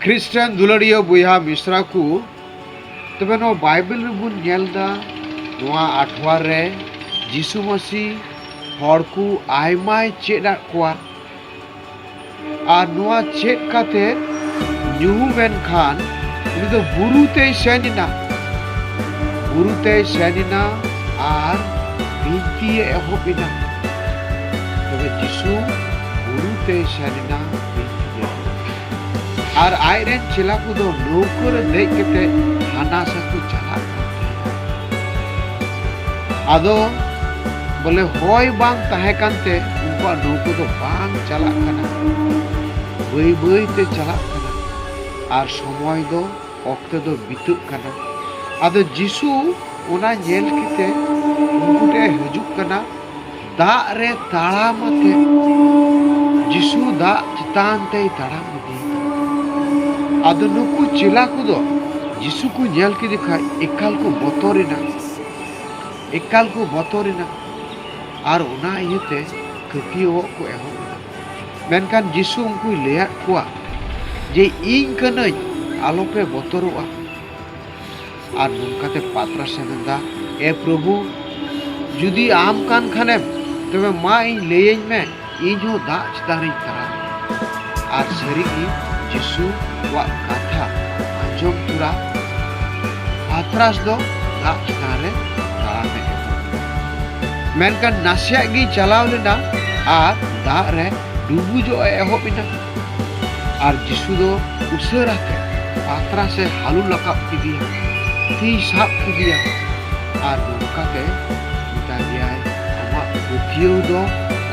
ᱠᱷᱨᱤᱥᱴᱟᱱ ᱫᱩᱞᱟᱹᱲᱤᱭᱟᱹ ᱵᱚᱭᱦᱟ ᱢᱤᱥᱨᱟ ᱠᱚ ᱛᱚᱵᱮ ᱱᱚᱣᱟ ᱵᱟᱭᱵᱮᱞ ᱨᱮᱵᱚᱱ ᱧᱮᱞ ᱮᱫᱟ ᱱᱚᱣᱟ ᱟᱴᱷᱣᱟᱨ ᱨᱮ ᱡᱤᱥᱩ ᱢᱟᱹᱥᱤ ᱦᱚᱲ ᱠᱚ ᱟᱭᱢᱟᱭ ᱪᱮᱫ ᱟᱫ ᱠᱚᱣᱟ ᱟᱨ ᱱᱚᱣᱟ ᱪᱮᱫ ᱠᱟᱛᱮ ᱧᱩᱦᱩᱢ ᱮᱱ ᱠᱷᱟᱱ ᱩᱱᱤ ᱫᱚ ᱵᱩᱨᱩ ᱛᱮᱭ ᱥᱮᱱ ᱮᱱᱟ ᱵᱩᱨᱩ ᱛᱮᱭ ᱥᱮᱱ ᱮᱱᱟ ᱟᱨ ᱵᱤᱱᱛᱤᱭᱮ ᱮᱦᱚᱵ ᱮᱱᱟ ᱛᱚᱵᱮ ᱡᱤᱥᱩ ᱵᱩᱨᱩ ᱛᱮᱭ ᱥᱮᱱ ᱮᱱᱟ ᱟᱨ ᱟᱡ ᱨᱮᱱ ᱪᱮᱞᱟ ᱠᱚ ᱫᱚ ᱱᱟᱹᱣᱠᱟᱹ ᱨᱮ ᱫᱮᱡ ᱠᱟᱛᱮ ᱦᱟᱱᱟ ᱥᱟ ᱠᱚ ᱪᱟᱞᱟᱜ ᱠᱟᱱ ᱛᱟᱦᱮᱸᱫ ᱟᱫᱚ ᱵᱚᱞᱮ ᱦᱚᱭ ᱵᱟᱝ ᱛᱟᱦᱮᱸ ᱠᱟᱱ ᱛᱮ ᱩᱱᱠᱩᱣᱟᱜ ᱱᱟᱹᱣᱠᱟᱹ ᱫᱚ ᱵᱟᱝ ᱪᱟᱞᱟᱜ ᱠᱟᱱᱟ ᱵᱟᱹᱭ ᱵᱟᱹᱭ ᱛᱮ ᱪᱟᱞᱟᱜ ᱠᱟᱱᱟ ᱟᱨ ᱥᱚᱢᱚᱭ ᱫᱚ ᱚᱠᱛᱮ ᱫᱚ ᱵᱤᱛᱟᱹᱜ ᱠᱟᱱᱟ ᱟᱫᱚ ᱡᱤᱥᱩ ᱚᱱᱟ ᱧᱮᱞ ᱠᱟᱛᱮ ᱩᱱᱠᱩ ᱴᱷᱮᱱ ᱦᱤᱡᱩᱜ ᱠᱟᱱᱟ ᱫᱟᱜ ᱨᱮ ᱛᱟᱲᱟᱢ ᱟᱛᱮ ᱡᱤᱥᱩ ᱫᱟᱜ ᱪᱮᱛᱟᱱ ᱛᱮᱭ ᱛᱟᱲᱟᱢ ᱤᱫᱤ ᱟᱫᱚ ᱱᱩᱠᱩ ᱪᱮᱞᱟ ᱠᱚᱫᱚ ᱡᱤᱥᱩ ᱠᱚ ᱧᱮᱞ ᱠᱮᱫᱮ ᱠᱷᱟᱡ ᱮᱠᱟᱞ ᱠᱚ ᱵᱚᱛᱚᱨᱮᱱᱟ ᱮᱠᱟᱞ ᱠᱚ ᱵᱚᱛᱚᱨᱮᱱᱟ ᱟᱨ ᱚᱱᱟ ᱤᱭᱟᱹᱛᱮ ᱠᱟᱹᱯᱤᱭᱟᱹᱣᱚᱜ ᱠᱚ ᱮᱦᱚᱵ ᱮᱱᱟ ᱢᱮᱱᱠᱷᱟᱱ ᱡᱤᱥᱩ ᱩᱱᱠᱩᱭ ᱞᱟᱹᱭᱟᱫ ᱠᱚᱣᱟ ᱡᱮ ᱤᱧ ᱠᱟᱹᱱᱟᱹᱧ ᱟᱞᱚᱯᱮ ᱵᱚᱛᱚᱨᱚᱜᱼᱟ ᱟᱨ ᱱᱚᱝᱠᱟᱛᱮ ᱯᱟᱛᱨᱟ ᱥᱮ ᱢᱮᱱᱫᱟ ᱮ ᱯᱨᱚᱵᱷᱩ ᱡᱩᱫᱤ ᱟᱢ ᱠᱟᱱ ᱠᱷᱟᱱᱮᱢ ᱛᱚᱵᱮ ᱢᱟ ᱤᱧ ᱞᱟᱹᱭᱟᱹᱧ ᱢᱮ ᱤᱧ ᱦᱚᱸ ᱫᱟᱜ ᱪᱮᱛᱟᱱ ᱨᱤᱧ ᱛᱟᱲᱟᱢ ᱟᱨ ᱥᱟᱹᱨᱤᱜᱮ ᱡᱤᱥᱩ ᱠᱚᱣᱟᱜ ᱠᱟᱛᱷᱟ ᱟᱸᱡᱚᱢ ᱛᱚᱨᱟ ᱯᱟᱛᱨᱟᱥ ᱫᱚ ᱫᱟᱜ ᱪᱮᱛᱟᱱ ᱨᱮ ᱛᱟᱲᱟᱢᱮ ᱮᱦᱚᱵ ᱢᱮᱱᱠᱷᱟᱱ ᱱᱟᱥᱮᱭᱟᱜ ᱜᱮ ᱪᱟᱞᱟᱣ ᱞᱮᱱᱟ ᱟᱨ ᱫᱟᱜ ᱨᱮ ᱰᱩᱵᱩᱡᱚᱜ ᱮ ᱮᱦᱚᱵ ᱮᱱᱟ ᱟᱨ ᱡᱤᱥᱩ ᱫᱚ ᱩᱥᱟᱹᱨᱟ ᱛᱮ ᱯᱟᱛᱨᱟ ᱥᱮ ᱦᱟᱞᱩ ᱞᱟᱠᱟᱵ ᱠᱮᱫᱮᱭᱟ ᱛᱤ ᱥᱟᱵ ᱠᱮᱫᱮᱭᱟ ᱟᱨ ᱱᱚᱝᱠᱟ ᱛᱮ ᱢᱮᱛᱟ ᱫᱮᱭᱟᱭ ᱟᱢᱟᱜ ᱯᱟᱹᱛᱭᱟᱹᱣ ᱫᱚ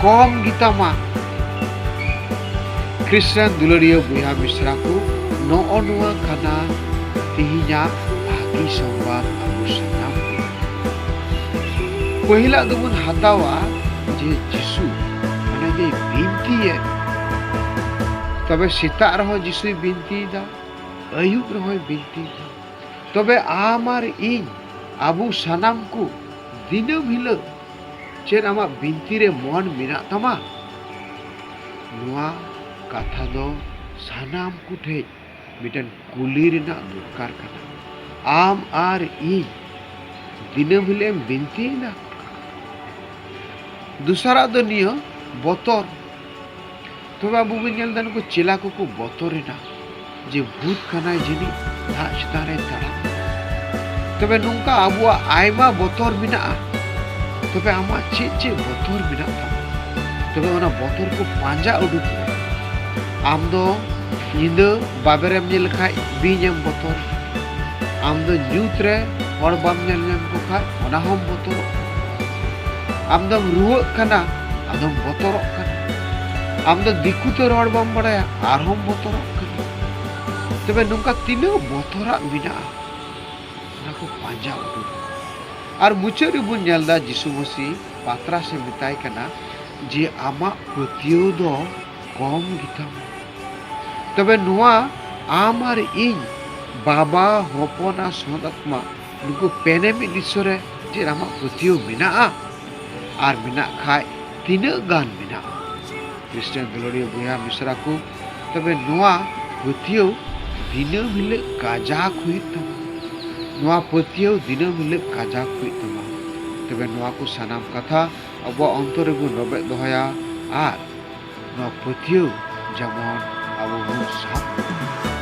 ᱠᱚᱢ ᱜᱮᱛᱟᱢᱟ ᱠᱨᱤᱥᱪᱟᱱ ᱫᱩᱞᱟᱹᱲᱤᱭᱟᱹ ᱵᱚᱭᱦᱟ ᱢᱤᱥᱨᱟ ᱠᱚ ᱱᱚᱜᱼᱚ ᱱᱚᱣᱟ ᱠᱟᱱᱟ ᱛᱮᱦᱮᱧᱟᱜ ᱵᱷᱟᱹᱜᱤ ᱥᱚᱝᱵᱟᱫ ᱟᱵᱚ ᱥᱟᱱᱟᱢ ᱯᱟᱹᱦᱤᱞᱟᱜ ᱫᱚᱵᱚᱱ ᱦᱟᱛᱟᱣᱟ ᱡᱮ ᱡᱤᱥᱩ ᱢᱟᱱᱮ ᱡᱮ ᱵᱤᱱᱛᱤᱭᱮᱫ ᱛᱚᱵᱮ ᱥᱮᱛᱟᱜ ᱨᱮᱦᱚᱸ ᱡᱤᱥᱩᱭ ᱵᱤᱱᱛᱤᱭᱮᱫᱟ ᱟᱹᱭᱩᱵ ᱨᱮᱦᱚᱸᱭ ᱵᱤᱱᱛᱤᱭᱮᱫᱟ ᱛᱚᱵᱮ ᱟᱢ ᱟᱨ ᱤᱧ ᱟᱵᱚ ᱥᱟᱱᱟᱢ ᱠᱚ ᱫᱤᱱᱟᱹᱢ ᱦᱤᱞᱳᱜ ᱪᱮᱫ ᱟᱢᱟᱜ ᱵᱤᱱᱛᱤ ᱨᱮ ᱢᱚᱱ ᱢᱮᱱᱟᱜ ᱛᱟᱢᱟ ᱱᱚᱣᱟ ᱠᱟᱛᱷᱟ ᱫᱚ ᱥᱟᱱᱟᱢ ᱠᱚᱴᱷᱮᱡ ᱢᱤᱫᱴᱮᱱ ᱠᱩᱞᱤ ᱨᱮᱱᱟᱜ ᱫᱚᱨᱠᱟᱨ ᱠᱟᱱᱟ ᱟᱢ ᱟᱨ ᱤᱧ ᱫᱤᱱᱟᱹᱢ ᱦᱤᱞᱳᱜ ᱮᱢ ᱵᱤᱱᱛᱤᱭᱮᱱᱟ ᱫᱚᱥᱟᱨᱟᱜ ᱫᱚ ᱱᱤᱭᱟᱹ ᱵᱚᱛᱚᱨ ᱛᱚᱵᱮ ᱟᱵᱚ ᱵᱚᱱ ᱧᱮᱞ ᱮᱫᱟ ᱱᱩᱠᱩ ᱪᱮᱞᱟ ᱠᱚᱠᱚ ᱵᱚᱛᱚᱨᱮᱱᱟ ᱡᱮ ᱵᱷᱩᱛ ᱠᱟᱱᱟᱭ ᱡᱟᱹᱱᱤᱡ ᱫᱟᱜ ᱪᱮᱛᱟᱱ ᱨᱮ ᱛᱟᱲᱟᱢ ᱛᱚᱵᱮ ᱱᱚᱝᱠᱟ ᱟᱵᱚᱣᱟᱜ ᱟᱭᱢᱟ ᱵᱚᱛᱚᱨ ᱢᱮᱱᱟᱜᱼᱟ ᱛᱚᱵᱮ ᱟᱢᱟᱜ ᱪᱮᱫ ᱪᱮᱫ ᱵᱚᱛᱚᱨ ᱢᱮᱱᱟᱜ ᱛᱟᱢᱟ ᱛᱚᱵᱮ ᱚᱱᱟ ᱵᱚᱛᱚᱨ ᱠᱚ ᱯᱟᱸᱡᱟ ᱩᱰᱩᱠ ᱢᱮ ᱟᱢ ᱫᱚ ᱧᱤᱫᱟᱹ ᱵᱟᱵᱮᱨ ᱮᱢ ᱧᱮᱞ ᱞᱮᱠᱷᱟᱡ ᱵᱤᱧ ᱮᱢ ᱵᱚᱛᱚᱨ ᱟᱢ ᱫᱚ ᱧᱩᱛ ᱨᱮ ᱦᱚᱲ ᱵᱟᱢ ᱧᱮᱞ ᱧᱟᱢ ᱠᱚ ᱠᱷᱟᱡ ᱚᱱᱟ ᱦᱚᱸᱢ ᱵᱚᱛᱚᱨᱚᱜ ᱟᱢ ᱫᱚᱢ ᱨᱩᱣᱟᱹᱜ ᱠᱟᱱᱟ ᱟᱫᱚᱢ ᱵᱚᱛᱚᱨᱚᱜ ᱠᱟᱱᱟ ᱟᱢ ᱫᱚ ᱫᱤᱠᱩ ᱛᱮ ᱨᱚᱲ ᱵᱟᱢ ᱵᱟᱲᱟᱭᱟ ᱟᱨᱦᱚᱸᱢ ᱵᱚᱛᱚᱨᱚᱜ ᱠᱟᱱᱟ ᱛᱚᱵᱮ ᱱᱚᱝᱠᱟ ᱛᱤᱱᱟᱹᱜ ᱵᱚᱛᱚᱨᱟᱜ ᱢᱮᱱᱟᱜᱼᱟ ᱚᱱᱟ ᱠᱚ ᱯᱟᱸᱡᱟ ᱩᱰᱩᱠ ᱟᱨ ᱢᱩᱪᱟᱹᱫ ᱨᱮᱵᱚᱱ ᱧᱮᱞ ᱫᱟ ᱡᱤᱥᱩ ᱢᱟᱹᱥᱤ ᱯᱟᱛᱨᱟᱥᱮ ᱢᱮᱛᱟᱭ ᱠᱟᱱᱟ ᱡᱮ ᱟᱢᱟᱜ ᱯᱟᱹᱛᱭᱟᱹᱣ ᱫᱚ ᱠᱚᱢ ᱜᱮᱛᱟᱢᱟ ᱛᱚᱵᱮ ᱱᱚᱣᱟ ᱟᱢ ᱟᱨ ᱤᱧ ᱵᱟᱵᱟ ᱦᱚᱯᱚᱱ ᱟᱨ ᱥᱚᱛ ᱟᱛᱢᱟ ᱱᱩᱠᱩ ᱯᱮᱱᱮ ᱢᱤᱫ ᱤᱥᱥᱚᱨᱮ ᱪᱮᱫ ᱟᱢᱟᱜ ᱯᱟᱹᱛᱭᱟᱹᱣ ᱢᱮᱱᱟᱜᱼᱟ ᱟᱨ ᱢᱮᱱᱟᱜ ᱠᱷᱟᱡ ᱛᱤᱱᱟᱹᱜ ᱜᱟᱱ ᱢᱮᱱᱟᱜᱼᱟ ᱠᱷᱨᱤᱥᱴᱟᱱ ᱫᱩᱞᱟᱹᱲᱤᱭᱟᱹ ᱵᱚᱭᱦᱟ ᱢᱤᱥᱨᱟ ᱠᱚ ᱛᱚᱵᱮ ᱱᱚᱣᱟ ᱯᱟᱹᱛᱭᱟᱹᱣ ᱫᱤᱱᱟᱹᱢ ᱦᱤᱞᱳᱜ ᱠᱟᱡᱟᱠ ᱦᱩᱭᱩᱜ ᱛᱟᱢᱟ ᱱᱚᱣᱟ ᱯᱟᱹᱛᱭᱟᱹᱣ ᱫᱤᱱᱟᱹᱢ ᱦᱤᱞᱳᱜ ᱠᱟᱡᱟᱠ ᱦᱩᱭᱩᱜ ᱛᱟᱢᱟ ᱛᱚᱵᱮ ᱱᱚᱣᱟ ᱠᱚ ᱥᱟᱱᱟᱢ ᱠᱟᱛᱷᱟ ᱟᱵᱚᱣᱟᱜ ᱚᱱᱛᱚᱨ ᱨᱮᱵᱚᱱ ᱨᱚᱵᱮᱫ ᱫᱚᱦᱚᱭᱟ ᱟᱨ ᱱᱚᱣᱟ ᱯᱟᱹᱛᱭᱟᱹᱣ ᱡᱮᱢᱚᱱ ᱟᱵᱚ ᱵᱚᱱ ᱥᱟᱵ ᱫᱚᱦᱚᱭ ᱢᱟ